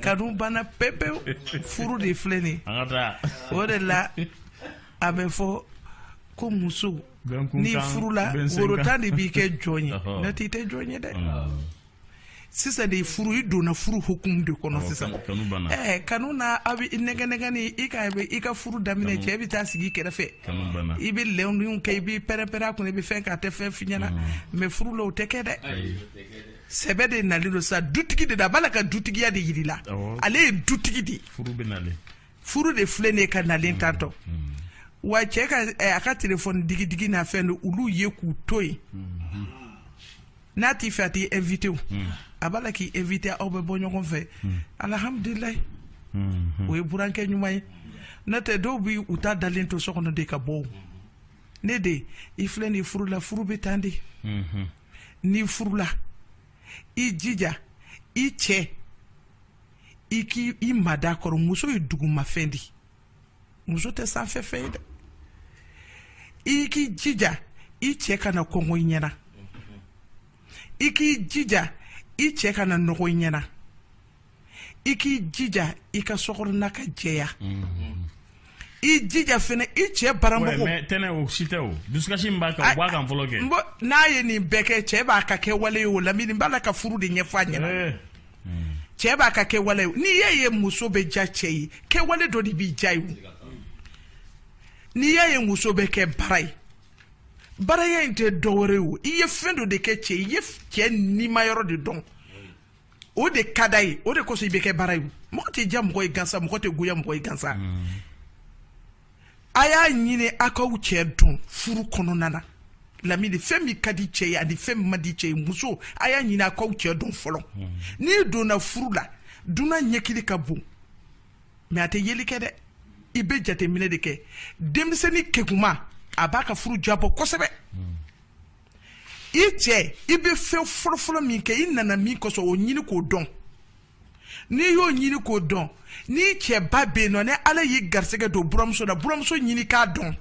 kanu banna pepewu furu de filɛ nin o de la a bɛ fɔ ko muso n'i furula woro tan de b'i kɛ jɔn ye n'o tɛ i tɛ jɔn ye dɛ sisan de furu i donna furu hukumu de kɔnɔ sisan ɛɛ kanu na a b'i nɛgɛ nɛgɛ ni i ka i ka furu daminɛ cɛ bɛ taa sigi kɛrɛfɛ i bɛ lɛndenw kɛ i bɛ pɛrɛn-pɛrɛn a kunna i bɛ fɛn k'a tɛ fɛn f'i ɲɛna mɛ furu la o tɛ kɛ dɛ sɛbɛ de nalen don sa dutigi de da a b'a la ka dutigiya de yir'i la ale ye dutigi de ye furu de filɛ ne ka nalen tantɔ wa cɛ ka a ka telefɔni digidigi n'a fɛn don olu ye k'u to yen n'a t'i fɛ a t'i invité o hmm. a b'a la k'i invité aw bɛ bɔ ɲɔgɔn fɛ hmm. alhamdulilayi hmm, o ye burankɛ ɲuman ye n'o tɛ dɔw bi u ta dalen to so kɔnɔ de ka bɔ o ne de i filɛ nin furu la furu bɛ tan de n'i furula i jija i cɛ i k'i mada a kɔrɔ muso ye dugumafɛn de ye muso tɛ sanfɛfɛn ye dɛ i k'i jija i cɛ kana kɔngɔ i ɲɛna i k'i jija i cɛ kana nɔgɔ i ɲɛna i k'i jija i ka sokɔnɔna ka jɛya i jija fana i cɛ bara mɔgɔw tɛnɛ o si tɛ o dusukasi min b'a kan o b'a kan fɔlɔ kɛ n'a ye nin bɛɛ kɛ cɛ b'a ka kɛwale ye o lamini b'a la ka furu de ɲɛfɔ a ɲɛna eh. cɛ b'a ka kɛwale n'i y'a ye muso bɛ ja cɛ ye kɛwale dɔ de b'i ja ye n'i y'a ye muso bɛ kɛ bara ye baraya in tɛ dɔwɛrɛ o i ye fɛn dɔ de kɛ cɛ i ye cɛ nima yɔrɔ de dɔn o de ka d'a ye o de kosɔn i bɛ kɛ bara ye mɔgɔ tɛ ja mɔgɔ ye gansa mɔgɔ tɛ goya mɔgɔ ye gansa mm. a y'a ɲini a k'aw cɛ dɔn furu kɔnɔna na lamini fɛn min ka di cɛ ye ani fɛn min man di cɛ ye muso a y'a ɲini a k'aw cɛ dɔn fɔlɔ hmm. n'i donna furu la dunan ɲɛkili ka bon mɛ a tɛ yeli kɛ dɛ i bɛ jateminɛ de kɛ denmisɛnnin keguman a b'a ka furu jabɔ kosɛbɛ hmm. i cɛ i bɛ fɛn fɔlɔfɔlɔ min kɛ i nana min kosɔn o ɲini k'o dɔn n'i y'o ɲini k'o dɔn n'i cɛ ba bɛ yen nɔ ni ala y'i garisɛgɛ don buranmuso la buranmuso ɲini k'a dɔn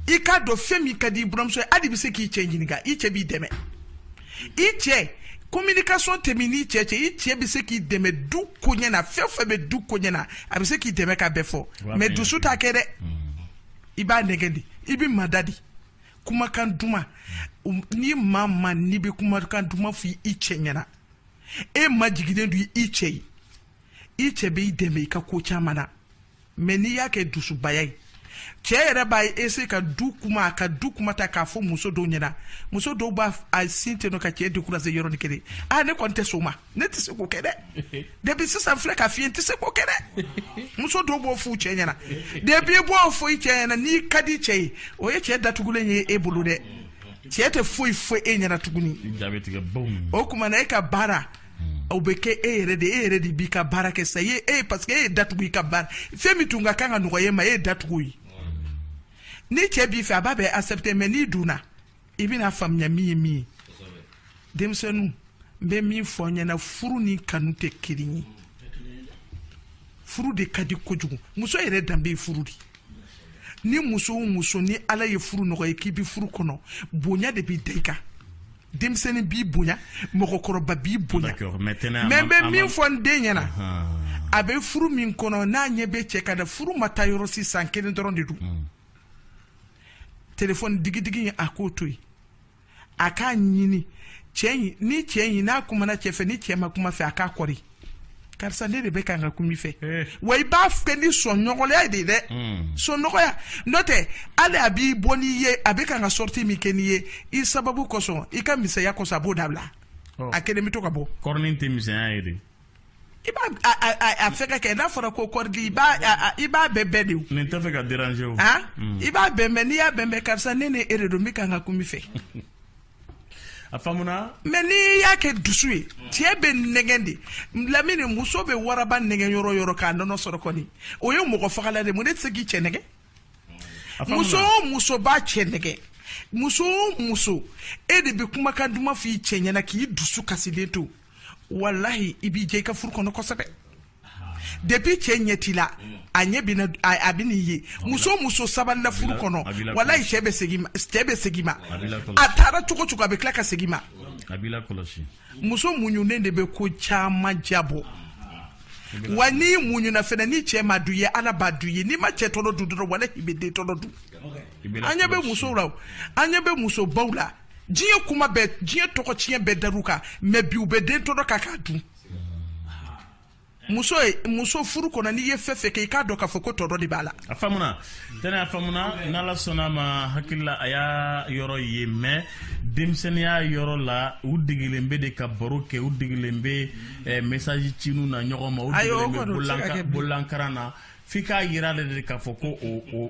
i k'a dɔn fɛn min ka di i buranmuso ye hali i bɛ se k'i cɛ ɲininka i cɛ b'i dɛmɛ i cɛ communication tɛ min n'i cɛ cɛ i cɛ bɛ se k'i dɛmɛ du koɲɛ na fɛn fɛn bɛ du koɲɛ na a bɛ se k'i dɛmɛ ka bɛɛ fɔ mɛ dusu t'a kɛ dɛ i b'a nɛgɛ de i b'i mada de kumakan duman ni maa ma n'i bɛ kumakan duman fɔ i cɛ ɲɛna e majiginnen don i cɛ ye i cɛ bɛ i dɛmɛ i ka ko caman na mais n'i y'a kɛ dusubaya ye cɛ yɛrɛ b'a ye ese ka du kuma a ka du kuma ta k'a fɔ muso dɔw ɲɛna muso dɔw b'a sin ten ka cɛ décourager yɔrɔni kelen aa ne kɔni tɛ sɔn a ma ne tɛ se k'o kɛ dɛ depi sisan filɛ ka fiɲɛ tɛ se k'o kɛ dɛ muso dɔw b'o f'u cɛ ɲɛna depi b'o fɔ i cɛ ɲɛna n'i ka di cɛ ye o ye cɛ datugulen ye e bolo dɛ cɛ tɛ foyi fɔ e ɲɛna tuguni o kuma na e ka baara o bɛ kɛ e yɛrɛ de e yɛrɛ de b'i ka baara kɛ sa e parce que e ye datugu i ka baara fɛn min tun ka kan ka nɔgɔya e ma e ye datugu ye ni cɛ b'i fɛ a b'a bɛɛ accepter mais n'i donna i bɛn'a faamuya min ye min ye denmisɛnninw n bɛ min fɔ aw ɲɛna furu ni kanu tɛ kelen ye furu de ka di kojugu muso yɛrɛ danbe ye furu de ye ni muso o muso ni ala ye furu nɔgɔya i ye k'i bɛ furu kɔnɔ bonya de bɛ da i kan denmisɛnnin b'i bonya mɔgɔkɔrɔba b'i bonya mɛ n bɛ min fɔ n den ɲɛna a bɛ furu min kɔnɔ n'a ɲɛ bɛ cɛ ka da furu ma taa yɔrɔ si san kelen dɔrɔn de don hmm. telefɔni digidigi a k'o to yen a k'a ɲini cɛ in ni cɛ in n'a kumana cɛ fɛ ni cɛ ma kuma a fɛ a k'a kɔri karisa ne de bɛ kan ka kum'i fɛ eh. wa i b'a kɛ ni sɔn nɔgɔya de ye dɛ hmm. sɔn nɔgɔya n'o tɛ hali a bɛ bɔ n'i ye a bɛ kan ka sɔriti min kɛ n'i ye i sababu kosɔn i ka misɛnya kosɔn a b'o dabila oh. a kelen bɛ to ka bɔ kɔrɔnin tɛ misɛnya ye dɛ I b'a fɛ k'a kɛ n'a fɔra ko kɔrɔdi i b'a bɛnbɛn de ne t'a fɛ k'a déranger i b'a bɛnbɛn n'i y'a bɛnbɛn karisa ne ni e yɛrɛ don bɛ kan ka kum'i fɛ a mɛ n'i y'a kɛ dusu ye cɛ bɛ nɛgɛn de laminɛ muso bɛ waraba nɛgɛn yɔrɔ yɔrɔ k'a nɔnɔ sɔrɔ kɔni o ye mɔgɔ fagala de mun n'e tɛ se k'i cɛ nɛgɛn muso muso b'a cɛ nɛgɛn muso muso e de bɛ kumakan duman f' i cɛ ɲɛna k'i dusu kasilen to walahi i bɛ jɛ i ka furu kɔnɔ kosɛbɛ depuis cɛ ɲɛ t'i la a ɲɛ bina a bɛn'i ye muso muso sabalila furu kɔnɔ walayi cɛ bɛ segin cɛ bɛ segin i ma a taara cogo o cogo a bɛ tila ka segin i ma muso muɲunen de bɛ ko caman diyabɔ wa n'i muɲuna fana ni cɛ m'a dɔn i ye ala b'a dɔn i ye n'i ma cɛ tɔnɔ dun dɔrɔn walahi i bɛ den tɔnɔ dun an ɲɛ bɛ musow la an ɲɛ bɛ musobaw la diɲɛ kuma bɛɛ diɲɛ tɔgɔ tiɲɛ bɛɛ dar'u kan mɛ bi u bɛ den tɔnɔ kan k'a dun muso ye muso furu kɔnɔ n'i ye fɛn fɛn kɛ i k'a dɔn k'a fɔ ko tɔnɔ de b'a la a faamuna tɛnɛ a faamuna n'ala sɔnna a ma hakili la a y'a yɔrɔ ye mɛ denmisɛnniya yɔrɔ la u degelen bɛ de ka baro kɛ u degelen bɛ eh, mesaji cini na ɲɔgɔn ma u degelen bɛ bolankara na f'i k'a jira a la de k'a fɔ ko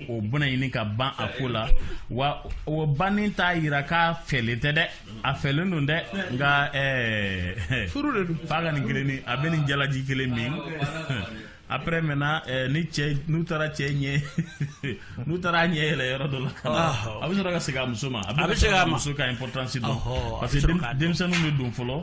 o bɛna ɲini ka ban a ko la wa o bannen t'a jira k'a fɛlen tɛ dɛ a fɛlen don dɛ nka ɛɛ furu de don f'a ka nin kelen ni a bɛ nin jalaji kelen min après maintenant eh, ni cɛ n'u taara cɛ ɲɛ n'u taara a ɲɛ yɛlɛ yɔrɔ dɔ la ka na a bɛ sɔrɔ ka segin a muso ma a bɛ sɔrɔ k'a muso ka importance dɔn parce que denmisɛnninw de don fɔlɔ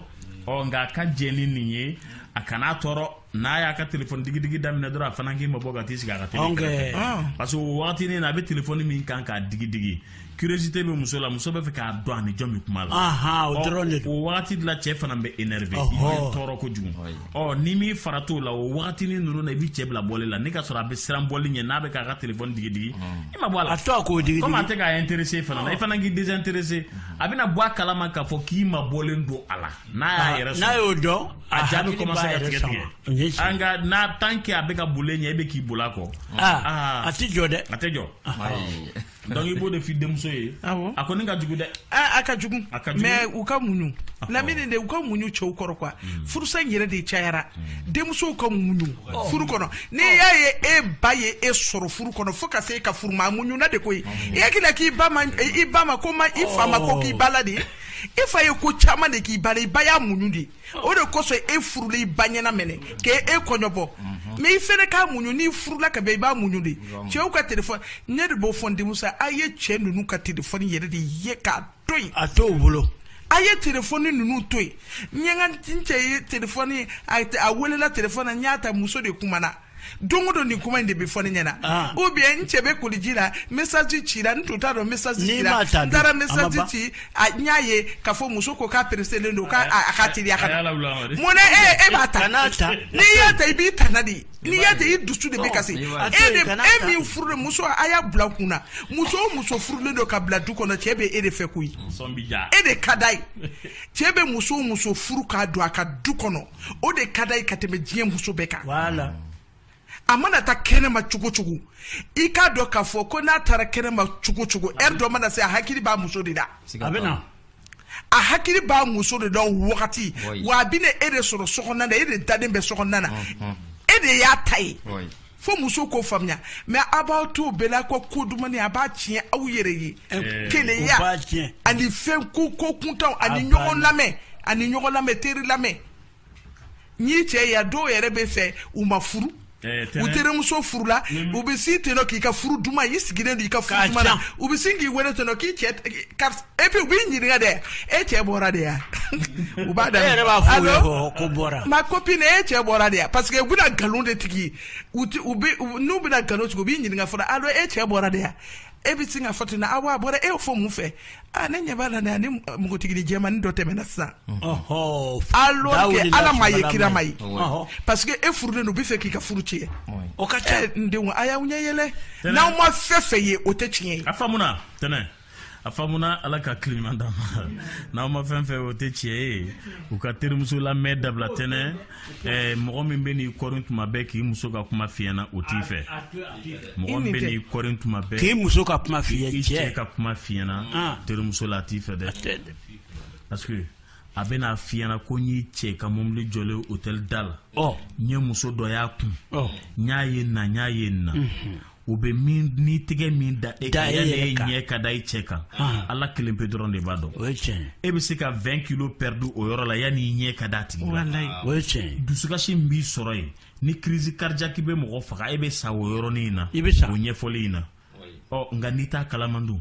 ɔ nka a ka jɛn ni nin ye a kana tɔɔrɔ n'a y'a ka téléphone digidigi daminɛ dɔrɔn a fana k'i mabɔ ka t'i sigi a ka téléphone kɛrɛfɛ ah. parce que o wagatinin na a bɛ téléphone min kan k'a digidigi curiosité bɛ muso la muso bɛ fɛ k'a dɔn a ni jɔn bɛ kuma la o dɔrɔn de don o wagati de la cɛ fana bɛ énervé i bɛ tɔɔrɔ kojugu ɔ n'i m'i farati o la o wagatinin ninnu na i bɛ cɛ bila boli la ni ka sɔrɔ a bɛ siran boli i ɲɛ n'a bɛ k'a ka téléphone digidigi i mabɔ a la a to a k'o digidigi komi a tɛ k'a intéressé fana na i fana k'i désintéressé a bɛna bɔ a kalama k'a fɔ k'i mabɔlen don a la n'a y'a yɛrɛ sɔrɔ n'a y'o dɔn a ja bɛ commencer ka tigɛ tigɛ nka tant que a bɛ ka boli e ɲɛ e bɛ k'i boli a kɔ aa a tɛ jɔ dɛ a tɛ jɔ donc i b'o de f'i denmuso ye a kɔni ka jugu dɛ a ka jugu mais u ka muɲu lamini de u ka muɲu cɛw kɔrɔ quoi furusa in yɛrɛ de cayara denmusow ka muɲu furu kɔnɔ n'i y'a ye e ba ye e sɔrɔ furu kɔnɔ fo ka se e ka furu ma a muɲuna de koyi i hakili la k'i ba ma ko ma i fa ma ko k'i ba la de i fa ye ko caman de k'i ba la i ba y'a muɲu de o de kosɔn e furula i ba ɲɛna minɛ k'e e kɔɲɔbɔ mais i fɛnɛ ka muɲu n'i furula ka bɛn i b'a muɲu de cɛw ka telefɔni n yɛrɛ b'o fɔ n denmuso ye, a ye cɛ ninnu ka telefɔni yɛrɛ de ye k'a to yen a t'u bolo a ye telefɔni ninnu to yen n ye n ka n cɛ ye telefɔni a a welela telefɔni na n y'a ta muso de kumana don o don nin kuma in de bɛ fɔ ne ɲɛna ah. ou bien n cɛ bɛ koliji la message cira n tun t'a dɔn message cira n taara message ci n y'a ye k'a fɔ muso ko k'a pereselen don k'a a ka teliya ka taa mun na e e b'a ta n'i y'a ta i b'i tana de ye n'i y'a ta i dusu de bɛ kasi e de e min furumuso a y'a bila a kun na muso o muso furulen don ka bila du kɔnɔ cɛ bɛ e de fɛ koyi e de ka d'a ye cɛ bɛ muso o muso furu k'a don a ka du kɔnɔ o de ka d'a ye ka tɛmɛ diɲɛ muso bɛɛ kan voilà a mana taa kɛnɛma cogo cogo i k'a dɔn k'a fɔ ko n'a taara kɛnɛma cogo cogo ɛri dɔ mana se a hakili b'a muso de la a bɛ na a hakili b'a muso de la o wagati wa a bɛna e de sɔrɔ sokɔnɔna na e de dalen bɛ sokɔnɔna na e de y'a ta ye fo muso k'o faamuya mais a b'aw to bɛɛla ko ko dumannin a b'a tiɲɛ aw yɛrɛ ye eh, keleya ani fɛn ko kuntan ani ɲɔgɔn lamɛn ani ɲɔgɔn lamɛn teri lamɛn n'i cɛ ya dɔw yɛrɛ bɛ fɛ u ma furu eh, u terimuso furula u bɛ sin ten k'i ka furu duman i sigilen don i ka furu duman na u bɛ sin k'i wele ten k'i cɛ et puis u b'i ɲininka dɛ e cɛ bɔra de ya u b'a da e yɛrɛ b'a fɔ u ye ko ko bɔra ma copine e cɛ bɔra de ya parce que u bɛna nkalon de tigɛ u ti u bɛ n'u bɛna nkalon tigɛ u b'i ɲininka fɔlɔ alo e cɛ bɔra de ya e bɛ sin k'a fɔ ten na awa a bɔra e y'o fɔ mun fɛ a ne ɲɛ b'a la dɛ ni npogotigini jɛmani dɔ tɛmɛna sisan alors que ala m'a ye kira m'a ye parce que e furulen don u b'a fɛ k'i ka furu tiɲɛ o ka ca n denw a y'aw ɲɛ yɛlɛ n'aw ma fɛn fɛn ye o tɛ tiɲɛ ye a faamuna tɛnɛ a faamuna ala ka hakili ɲuman d'a ma n'aw ma fɛn fɛn o tɛ tiɲɛ ye u ka terimuso lamɛn dabila tɛnɛ eh, mɔgɔ min bɛ n'i kɔrin tuma bɛɛ k'i muso ka kuma f'i ɲɛ na o t'i fɛ mɔgɔ min bɛ n'i kɔrin tuma bɛɛ k'i muso ka kuma f'i ye i cɛ ka kuma f'i ɲɛ na ah. terimuso la a t'i fɛ dɛ parce que a bɛn'a f'i ɲɛ na ko n y'i cɛ ka mobili jɔlen hôtel da la n ye muso dɔ y'a kun n y'a ye na n y'a ye na u bɛ min ni tigɛ min da e kan e yanni e ɲɛ ka da i cɛ kan ala kelen pe dɔrɔn de b'a dɔn o ye tiɲɛ e bɛ se ka 20 kilo perdu o yɔrɔ la yanni i ɲɛ ka d'a tigi la o ye tiɲɛ dusukasi min b'i sɔrɔ yen ni crise cardiaque bɛ mɔgɔ faga e bɛ sa o yɔrɔnin in na i bɛ sa o ɲɛfɔli in na ɔ nka n'i t'a kalama dun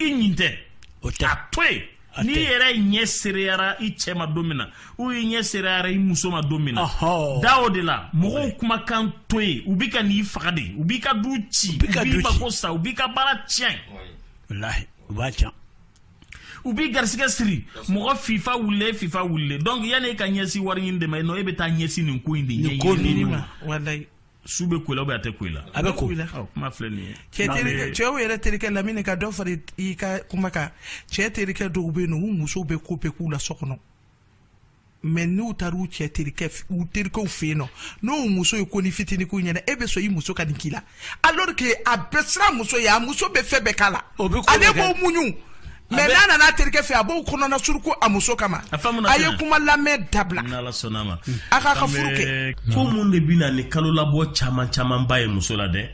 i ɲin tɛ o tɛ a to yen n'i yɛrɛ ɲɛ seereyara i cɛ ma don min na ou i ɲɛ seereyara i muso ma don min na da o de la mɔgɔw kumakan to yen u b'i ka ni faga de u b'i ka du ci u b'i mako sa u b'i ka baara tiɲɛ walahi u b'a tiɲɛ u b'i garisigɛ siri mɔgɔ fifa wulilen fifa wulilen donc yanni e ka ɲɛsin wari ɲini de ma e non e bɛ taa ɲɛsin nin ko in de ɲɛɲini ma su bɛ ko la ou bien a tɛ ko la a bɛ ko kuma filɛ nin ye cɛw yɛrɛ terikɛ lamɛnni ka dɔ fara i ka kuma kan cɛ terikɛ dɔw bɛ yen u musow bɛ ko bɛɛ k'u la so kɔnɔ mais n'u taara u cɛ terikɛ u terikɛw fɛ yen non n'u muso ye ko ni fitinin k'u ɲɛna e bɛ sɔn i muso ka nin k'i la alors que a bɛ siran muso ɲɛ a muso bɛ fɛn bɛɛ k'a la ale b'o muɲu mais n'a nana a terikɛ fɛ a b'o kɔnɔna suruku a muso kama a ye kuma lamɛn dabila a k'a ka furu kɛ ko mun de bɛ na ni kalo labɔ caman caman ba ye muso la dɛ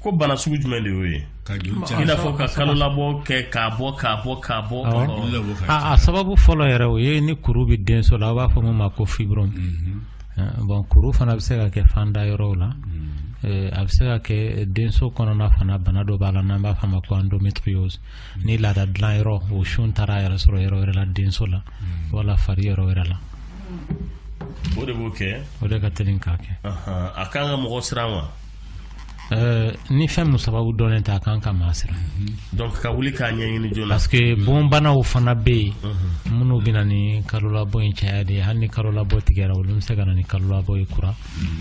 ko bana sugu jumɛn de y'o ye i n'a fɔ ka kalo labɔ kɛ k'a bɔ k'a bɔ k'a bɔ a sababu fɔlɔ yɛrɛ o ye ni kuru bɛ denso la u b'a fɔ min ma ko fibrome mhm. bon kuru fana bɛ se ka kɛ fanda yɔrɔw la mhm. a bɛ se ka kɛ denso kɔnɔna fana bana dɔ b'a la n'an b'a fɔ a ma ko endometriose ni laada dilan yɔrɔ o sun taara a yɛrɛ sɔrɔ yɔrɔ wɛrɛ la denso la hmm. wala fari yɔrɔ wɛrɛ la o de b'o kɛ o de ka teli k'a kɛ a kan ka mɔgɔ siran wa eh, ni fɛn min sababu dɔnnen tɛ a kan ka maa siran hmm. donc ka wuli k'a ɲɛɲini joona parce que bɔnbanaw fana bɛ yen hmm. minnu bɛ na ni kalolabɔ in caya de ye hali ni kalolabɔ tigɛra olu bɛ se ka na ni kalolabɔ ye kura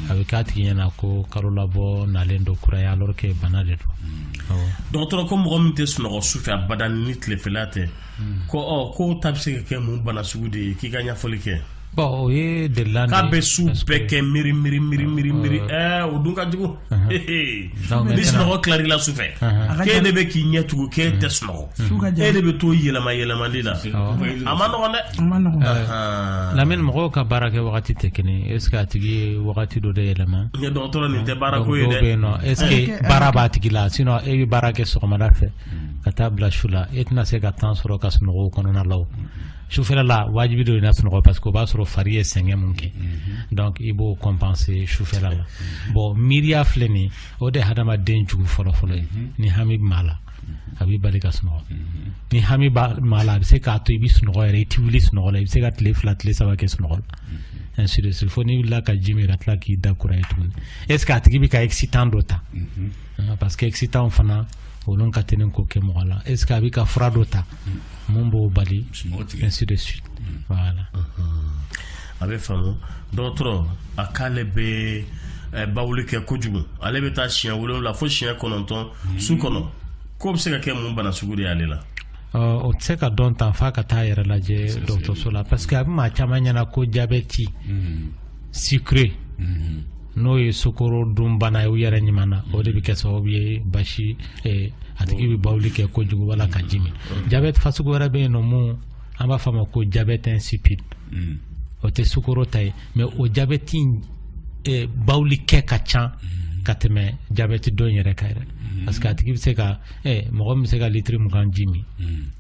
a bɛ k'a tigi ɲɛna ko kalo labɔ nalen don kura ye alors que bana de don awɔ. dɔgɔtɔrɔ ko mɔgɔ min tɛ sunɔgɔ sufɛ abada ni tilefɛla tɛ ko ɔ k'o ta bɛ se ka kɛ mun bana sugu de ye k'i ka ɲɛfɔli kɛ bon o ye delina de ye k'a bɛ su parce que- bɛɛ kɛ miiri miiri miiri miiri miiri ɛɛ o dun ka jugu Hehe. ni sunɔgɔ tilal'i la sufɛ k'e de bɛ k'i ɲɛ tugu k'e tɛ sunɔgɔ e de bɛ to yɛlɛma yɛlɛmali la a man nɔgɔn dɛ Lamini mɔgɔw ka baara kɛ wagati tɛ kelen ye est ce que a tigi ye wagati dɔ de yɛlɛma dɔgɔtɔrɔ nin tɛ baara ko ye dɛ est ce que baara b'a tigi la sinon e bɛ baara kɛ sɔgɔmada fɛ ka taa bila su la e tɛna se ka temps sɔrɔ ka sunɔgɔ o kɔnɔna la sufɛla la wajibi don i na sunɔgɔ parce que o b'a sɔrɔ fari ye sɛgɛn mun kɛ donc i b'o compenser sufɛla la bon miiriya filɛ nin o de ye hadamaden jugu fɔlɔfɔlɔ ye ni hami b'a la a b'i bali ka sunɔgɔ ni hami b'a la a bɛ se k'a to i bɛ sunɔgɔ yɛrɛ i tɛ wuli sunɔgɔ la i bɛ se ka tile fila tile saba kɛ sunɔgɔ la ainsi de suite fo n'i wulila ka ji min ka tila k'i da kura ye tuguni est ce que a tigi bɛ ka excitant dɔ ta parce que excitant fana olu ka teli k'o kɛ mɔgɔ la est ce que a bɛ ka fura dɔ ta mun b'o bali ainsi de suite mm. voilà a bɛ faamu dɔgɔtɔrɔ a k'ale bɛ eh, bawuli kɛ kojugu ale bɛ taa siɲɛ wolonwula fo siɲɛ kɔnɔntɔn mm. su kɔnɔ k'o bɛ se ka kɛ mun bana sugu de y'ale la o tɛ se ka dɔn tan f'a ka taa yɛrɛ lajɛ dɔgɔtɔrɔso la parce que a bɛ maa caman ɲɛna ko jabɛti mm. sucré mm-hmm. n'o ye sukoro dunbana ye u yɛrɛ ɲuman na o de bɛ kɛ sababu ye basi a tigi bɛ bawuli kɛ kojugu wala ka ji min jabɛti fasugu wɛrɛ bɛ yen nɔ mun an b'a fɔ a ma ko jabɛti insipide mm. o tɛ sukoro ta ye mais o jabɛti bawuli kɛ ka ca mm. ka tɛmɛ jabɛti dɔ in yɛrɛ kan yɛrɛ mm. parce que a tigi bɛ se ka mɔgɔ min bɛ se ka litiri mugan ji min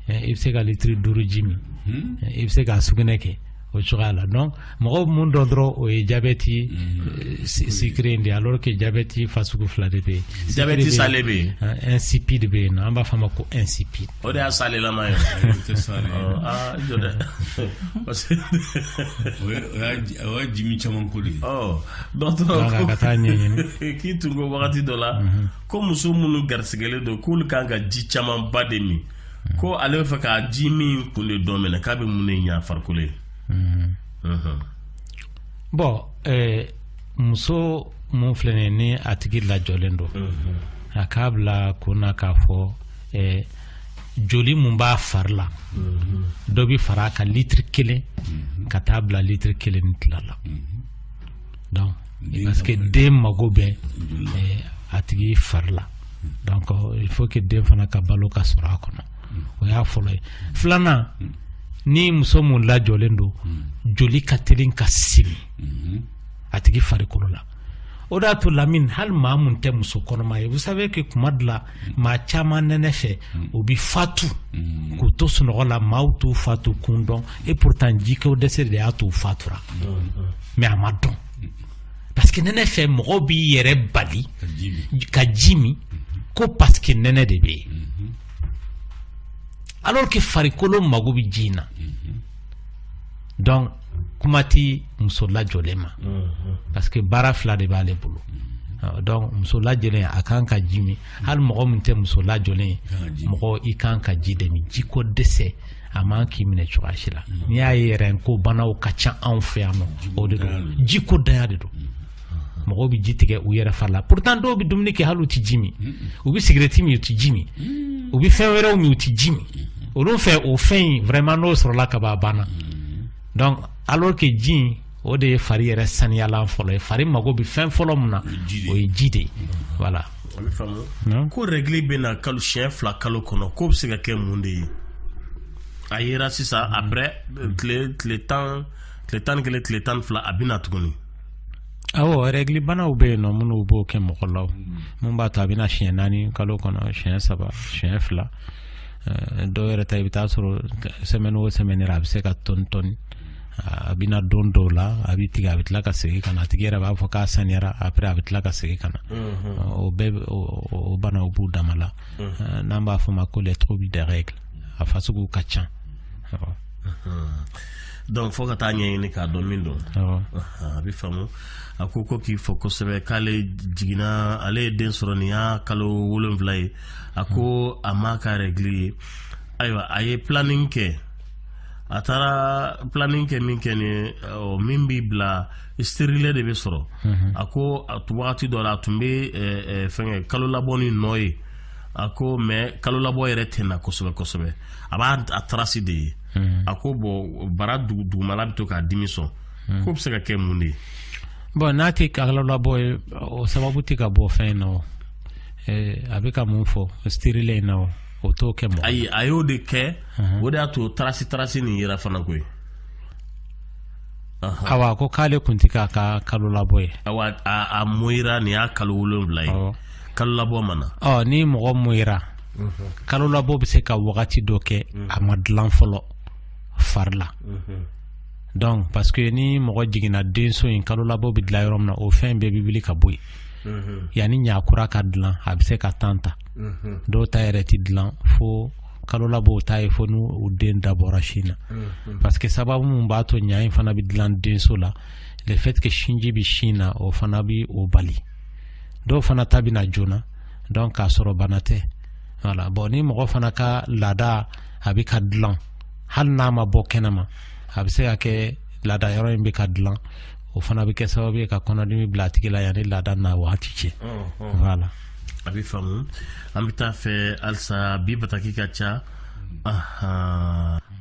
i bɛ se ka litiri duuru ji min i bɛ se ka sugunɛ kɛ o cogoya la donc mɔgɔ mun dɔn dɔrɔn o ye jabɛti mm. sucré in de alors que jabɛti fasugu fila de bɛ yen jabɛti salé bɛ yen insipide bɛ yen an b'a fɔ a ma ko insipide o de y'a salelama ye aa jɔ dɛ parce que o y'a jimin caman ko de ye dɔgɔtɔrɔ ka taa ɲɛɲini k'i tun ko wagati dɔ la mm-hmm. ko muso minnu garisigɛlen don k'olu kan ka ji camanba de min ko ale bɛ fɛ ka ji min kun de dɔn minɛ k'a bɛ mun de ɲɛ farikolo ye bon muso mun filɛ nin ye ni a tigi lajɔlen don a k'a bila kun na k'a fɔ joli min b'a fari la dɔ bɛ fara a kan litiri kelen ka taa bila litiri kelen ni tila la donc parce que den mago bɛ eh, a tigi fari la donc il faut que den fana ka balo ka sɔrɔ a kɔnɔ o y'a fɔlɔ ye filanan ni muso mun lajɔlen don joli ka telin ka simi a tigi farikolo la o de y'a to Lamine hali maa mun tɛ muso kɔnɔma ye vous savez que kuma dɔ la maa caman nɛnɛ fɛ u bɛ fatu k'u to sunɔgɔ la maaw t'u fatu kun dɔn et pourtant jiko dɛsɛ de y'a to u fatura mais a ma dɔn parce que nɛnɛ fɛ mɔgɔw b'i yɛrɛ bali ka ji min ko parce que nɛnɛ de bɛ yen alors que farikolo mago bɛ ji in na donc kuma tɛ muso lajɔlen ma parce que baara fila de b'aale bolo donc muso lajɔlen a kan ka ji min hali mɔgɔ min tɛ muso lajɔlen mɔgɔ i kan ka ji de min ji ko dɛsɛ a man k'i minɛ cogoya si la n'i y'a ye yɛrɛ ko banaw ka ca anw fɛ yan nɔ o de don ji ko ntanya de don mɔgɔw bɛ ji tigɛ u yɛrɛ fari la pourtant dɔw bɛ dumuni kɛ hali u tɛ ji min u bɛ sigirɛti min u tɛ ji min u bɛ fɛn wɛrɛw min u tɛ ji min olu fɛ o fɛn in vraiment n'o sɔrɔla ka ban a banna donc alors que ji in o de ye fari yɛrɛ saniyalan fɔlɔ ye fari mago bɛ fɛn fɔlɔ min na o ye ji de ye voilà. a bɛ faamu ko règle bɛ na kalo siɲɛ fila kalo kɔnɔ k'o bɛ se ka kɛ mun de ye a yera sisan après tile tile tan tile tan ni kelen tile tan ni fila a bɛ na tuguni. Awɔ règle banaw bɛ yen nɔ minnu b'o kɛ mɔgɔ la minnu b'a to a bɛ na siɲɛ naani kalo kɔnɔ siɲɛ saba siɲɛ fila eh, dɔw yɛrɛ ta i bɛ taa sɔrɔ semaine o semaine a bɛ se ka tɔni tɔni a bɛ na don dɔw la a bɛ tigɛ a bɛ tila ka segin ka na a tigi yɛrɛ b'a fɔ k'a saniyara après a bɛ tila ka segin ka na mhm. o bɛɛ o banaw b'u dama la mhm. eh, n'an b'a fɔ o ma ko les troubles des règles a fasuguw ka ca. donc fo ka taa ɲɛɲini k'a dɔn min don a bɛ faamu a ko ko k'i fo kosɛbɛ k'ale jiginna ale ye den sɔrɔ nin y'a kalo wolonfila ye a ko a m'a ka règle ye ayiwa a ye planning kɛ a taara planning kɛ min kɛ ni ɔ min bɛ bila stérilet de bɛ sɔrɔ mhm. a ko a wagati dɔ la a tun bɛ fɛnkɛ kalo labɔ ni nɔ ye a ko mais kalo labɔ yɛrɛ tɛ na kosɛbɛ kosɛbɛ a b'a a trace de ye hmm. a ko bon bara dugumala bɛ to k'a dimi sɔn hmm. k'o bɛ se ka kɛ mun de ye bon n'a tɛ kalo labɔ ye o sababu tɛ ka bɔ fɛn in na o eh, a bɛ ka mun fɔ stérilet in na o o t'o kɛ mɔgɔ ayi a y'o de kɛ hmm. o de y'a to trace trace nin yera fana koyi awa ko k'ale kun tɛ k'a ka kalo labɔ ye awa a moyira nin y'a kalo wolonfila ye kalo labɔ ma na ɔ ni mɔgɔ moyira kalo labɔ bɛ se ka wagati dɔ kɛ a ma dilan fɔlɔ fari la donc parce que ni mɔgɔ jiginna denso in kalo labɔ bɛ dilan yɔrɔ min na o fɛn bɛɛ bɛ wuli ka bɔ yen yanni ɲakura ka dilan a bɛ se ka temps ta dɔw ta yɛrɛ tɛ dilan fo kalo labɔ o ta ye fo n'u den dabɔra sin na parce que sababu min b'a to ɲa in fana bɛ dilan denso la le fait que sinji bɛ sin na o fana bɛ o bali dɔw fana ta bɛ na joona donc k'a sɔrɔ bana tɛ voilà bon ni mɔgɔ fana ka laada a bɛ ka dilan hali n'a ma bɔ kɛnɛma a bɛ se ka kɛ laada yɔrɔ in bɛ ka dilan o fana bɛ kɛ sababu ye ka kɔnɔdimi bila a tigi la yanni laada na waati cɛ voilà a bɛ faamu an bɛ t'a fɛ halisa bi bataki ka ca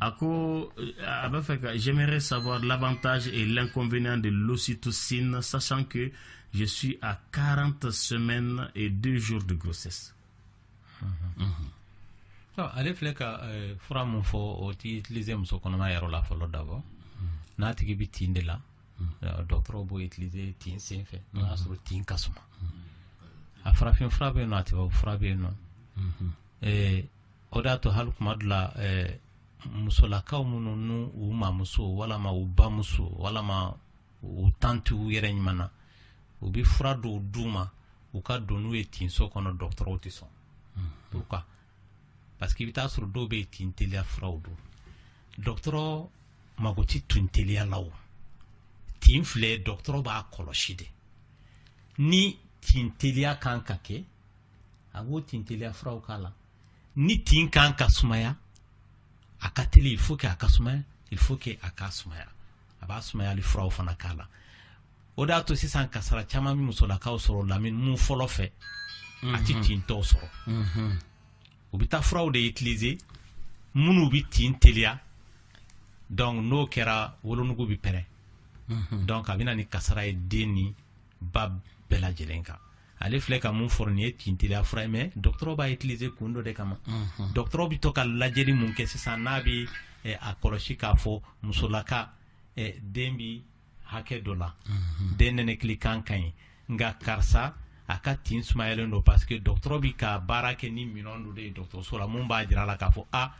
a ko a b'a fɛ ka j'aimerais savoir l'avantage et l'inconvénient de l'ocytocine sachant que Je suis à 40 semaines et 2 jours de grossesse. Mhm. Mhm. Ah, ale filɛ ka eh, fura mun fɔ o tɛ utiliser muso kɔnɔma yɛrɛ la fɔlɔ d'abord mhm. n'a tigi bɛ tin de la eh, dɔgɔtɔrɔw b'o utiliser tin sen fɛ n'o y'a sɔrɔ tin ka suma a farafin fura bɛ yen nɔ a tubabu fura bɛ yen nɔ eh, o de y'a to hali tuma dɔ la musolakaw minnu n'u u mamuso walama u bamuso walama u tanti u yɛrɛ ɲuman na u bɛ fura dɔw d'u ma u ka don n'u ye tinso kɔnɔ dɔgɔtɔrɔw tɛ sɔn pourquoi parce que i bɛ t'a sɔrɔ dɔw bɛ yen tin teliya furaw don dɔgɔtɔrɔ mago tɛ tin teliya la o tin filɛ dɔgɔtɔrɔ b'a kɔlɔsi de ni tin teliya kan ka kɛ a b'o tin teliya furaw k'a la ni tin kan ka sumaya a ka teli il faut que a ka sumaya il faut que a ka sumaya a b'a sumayali furaw fana k'a la o de y'a to sisan kasara caman bɛ musolakaw sɔrɔ lamini mun fɔlɔ fɛ a tɛ mhm. tintɔw sɔrɔ mhm. u bɛ taa furaw de utiliser minnu bɛ tin teliya donc n'o kɛra wolonugu bɛ pɛrɛn mhm. donc a bɛ na ni kasara ye den ni ba bɛɛ lajɛlen kan ale filɛ ka mun fɔ nin ye tinteliya fura ye mais dɔgɔtɔrɔ b'a utiliser kun dɔ de kama unhun dɔgɔtɔrɔ bɛ to ka lajɛli mun kɛ sisan n'a bɛ eh, a kɔlɔsi k'a fɔ musolaka eh, den bi hakɛ dɔ la den nɛnɛkili kan ka ɲi nka karisa a ka tin sumayalen don parce que dɔgɔtɔrɔ bi ka baara kɛ ni minɛn dɔ de ye dɔgɔtɔrɔso la mun b'a jira a la k'a fɔ a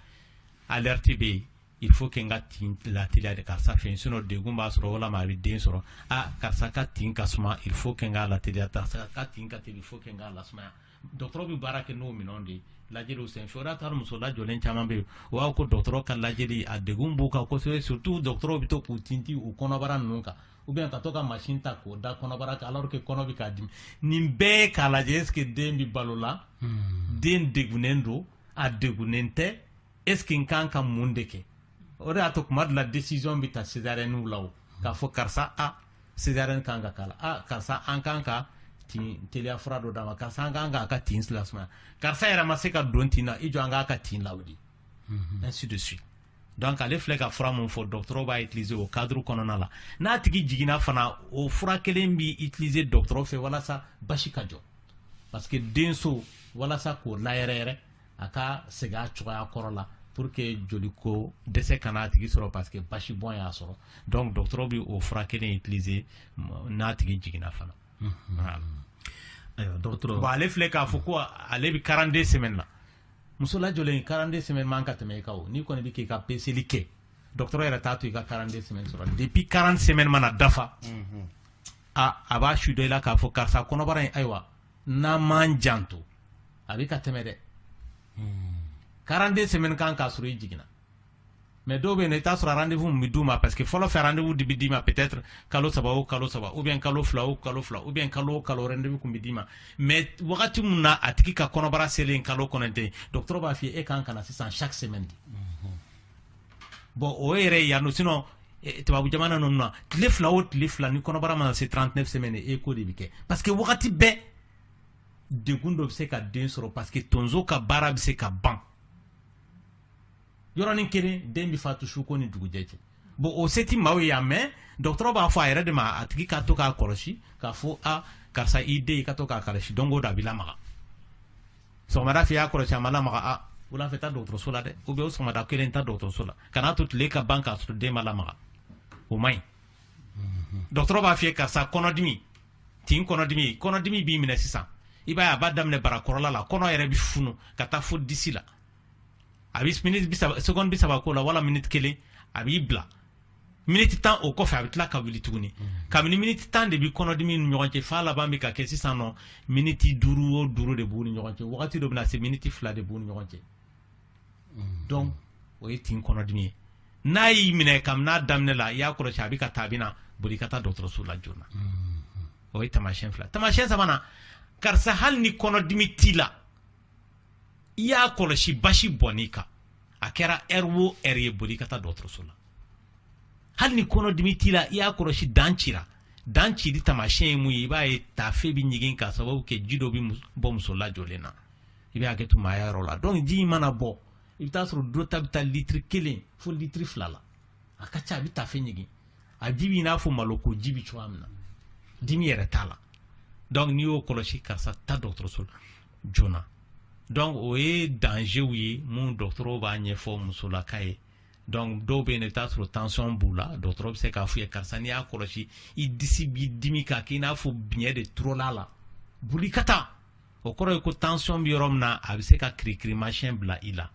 alerte bɛ yen il faut que n ka tin lateliya de karisa fɛ sinon degun b'a sɔrɔ walama a bɛ den sɔrɔ ah karisa ka tin ka suma il faut que n k'a lateliya karisa ka tin ka teli il faut que n k'a lasumaya dɔgɔtɔrɔ bɛ baara kɛ n'o minɛnw de ye lajɛliw senfɛ o de y'a to hali muso lajɔlen caman bɛ yen u b'a fɔ ko dɔgɔtɔrɔ ka lajɛli a degun b'u kan kosɛbɛ surtout dɔgɔtɔrɔw bɛ to k'u tintin u kɔnɔbara ninnu kan ou bien ka to ka machine ta k'o da kɔnɔbara kan alors que kɔnɔ bɛ k'a dimi nin bɛɛ k'a lajɛ est ce que den bɛ balo la den degunnen don a degunnen tɛ est ce que n kan ka mun de kɛ o de y'a to kuma dɔ la décision bɛ ta césarienne la k'a fɔ karisa a césarienne kan ka k'a la a karisa an kan ka tin teliya fura dɔ d'a ma karisa an kan k'a ka tin lasumaya karisa yɛrɛ ma se ka don tin na i jɔ an k'a ka tin lawuli mhm. ainsi de suite donc ale filɛ ka fura mun fɔ dɔgɔtɔrɔ b'a utiliser o cadre kɔnɔna la n'a tigi jiginna fana o fura kelen bɛ utiliser dɔgɔtɔrɔ fɛ walasa basi ka jɔ parce que denso walasa k'o layɛrɛyɛrɛ a ka segin a cogoya kɔrɔ la pour que joli ko dɛsɛ kana a tigi sɔrɔ parce que basi bɔn y'a sɔrɔ donc dɔgɔtɔrɔ bɛ o fura kelen utiliser n'a tigi jiginna fana ayiwa dɔgɔtɔrɔ bon ale filɛ k'a fɔ ko ale bɛ 42 semaine na muso lajɔlen 42 semaine man ka tɛmɛ i kan o n'i kɔni bɛ k'i ka peseli kɛ dɔgɔtɔrɔ yɛrɛ t'a to i ka 42 semaine sɔrɔ depuis 40 semaine mana dafa a a b'a su dɔ i la k'a fɔ karisa kɔnɔbara in ayiwa n'an m'an janto a bɛ ka tɛmɛ dɛ 42 semaine kan k'a sɔrɔ i jiginna mais dɔw bɛ yen i t'a sɔrɔ rendez-vous min bɛ d'u ma parce que fɔlɔ fɛ rendez-vous de bɛ d'i ma peut-être kalo saba o kalo saba ou bien kalo fila o kalo fila ou bien kalo o kalo rendez-vous kun bɛ d'i ma mais wagati min na a tigi ka kɔnɔbara selen kalo kɔnɔntɔn dɔgɔtɔrɔ b'a f'i ye e kan ka na sisan chaque semaine de bon o yɛrɛ yan nɔ sinon eh, tubabu jamana ninnu na tile fila o tile fila ni kɔnɔbara mana se 39 semaine écho de bɛ kɛ parce que wagati bɛɛ degun dɔ bɛ se ka den sɔrɔ parce que tonso ka baara bɛ se ka ban yɔrɔnin kelen den bɛ fatu su ko ni dugujɛ cɛ bon o se tɛ maaw ye yan mais dɔgɔtɔrɔ b'a fɔ a yɛrɛ de ma a tigi ka to k'a kɔlɔsi k'a fɔ a karisa i den i ka to k'a kɔlɔsi don o don a bɛ lamaga sɔgɔmada fɛ i y'a kɔlɔsi a ma lamaga a wulafɛ taa dɔgɔtɔrɔso la dɛ ou bien o sɔgɔmada kelen taa dɔgɔtɔrɔso la kan'a to tile ka ban k'a sɔrɔ den ma lamaga o man ɲi dɔgɔtɔrɔ b'a f'i ye karisa kɔnɔdimi tin kɔnɔdimi kɔnɔdimi b'i minɛ sisan i b'a ye a b'a daminɛ barakɔrɔla la kɔnɔ yɛrɛ bi funu ka taa fo disi la a bi miniti seconde bisaba k'o la wala miniti kelen a b'i bila miniti tan o kɔfɛ a bɛ tila ka wuli tuguni kabini miniti tan de bɛ kɔnɔdimi ni ɲɔgɔn cɛ f'a laban bɛ ka kɛ sisan nɔ miniti duuru o duuru de b'u ni ɲɔgɔn cɛ wagati dɔ bɛna se miniti fila de b'u ni ɲɔgɔn cɛ donc o ye tin kɔnɔdimi ye n'a y'i minɛ kabini n'a daminɛ la i y'a kɔlɔsi a bɛ ka taa a bɛna boli ka taa dɔgɔtɔrɔso la joona o ye taamasiyɛn fila taamasiyɛn sabanan karisa hali ni kɔnɔdimi t'i la i y'a kɔlɔsi basi bɔn'i kan a kɛra heure o heure ye boli ka taa dɔgɔtɔrɔso la hali ni kɔnɔdimi t'i la i y'a kɔlɔsi dan cira dan cili taamasiyɛn ye mun ye i b'a ye taafe bɛ ɲigin k'a sababu kɛ ji dɔ bɛ bɔ muso lajɔlen na i bɛ hakɛ to maaya yɔrɔ la donc ji in mana bɔ i bɛ t'a sɔrɔ dɔ ta bɛ taa litiri kelen fo litiri fila la a ka ca a bɛ taafe ɲigin a ji b'i n'a fɔ malo ko ji bɛ cogoya min na dimi yɛrɛ t'a la donc n'i y'o kɔlɔsi karisa taa dɔgɔtɔrɔso la joona donc o ye dangerw ye minnu dɔgɔtɔrɔw b'a ɲɛfɔ musolaka ye donc dɔw bɛ yen i bɛ t'a sɔrɔ tension b'u la dɔgɔtɔrɔ bɛ se k'a f'u ye karisa n'i y'a kɔlɔsi i disi b'i dimi k'a k'i n'a fɔ biɲɛ de turula a la boli ka taa o kɔrɔ ye ko tension bɛ yɔrɔ min na a bɛ se ka kirikirimasiyɛn bila i la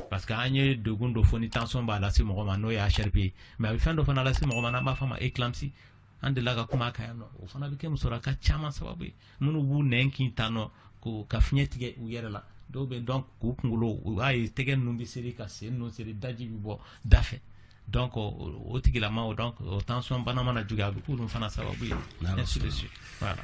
parce que an ye degun dɔ fɔ ni tension b'a lase mɔgɔ ma n'o ye HRP ye mais a bɛ fɛn dɔ fana lase mɔgɔ ma n'an b'a fɔ a ma éclampsie an delila ka kuma a kan yan nɔ o fana bɛ kɛ musolaka caman sababu ye minnu b'u nɛn kin tan nɔ ko ka fiɲɛ tigɛ u yɛrɛ la dɔw bɛ donc k'u kunkolo u b'a ye tɛgɛ ninnu bɛ seri ka sen ninnu seri daji bɛ bɔ da fɛ donc o tigilamaw donc o tension bana mana juguya a bɛ k'olu fana sababu ye ainsi de suite voilà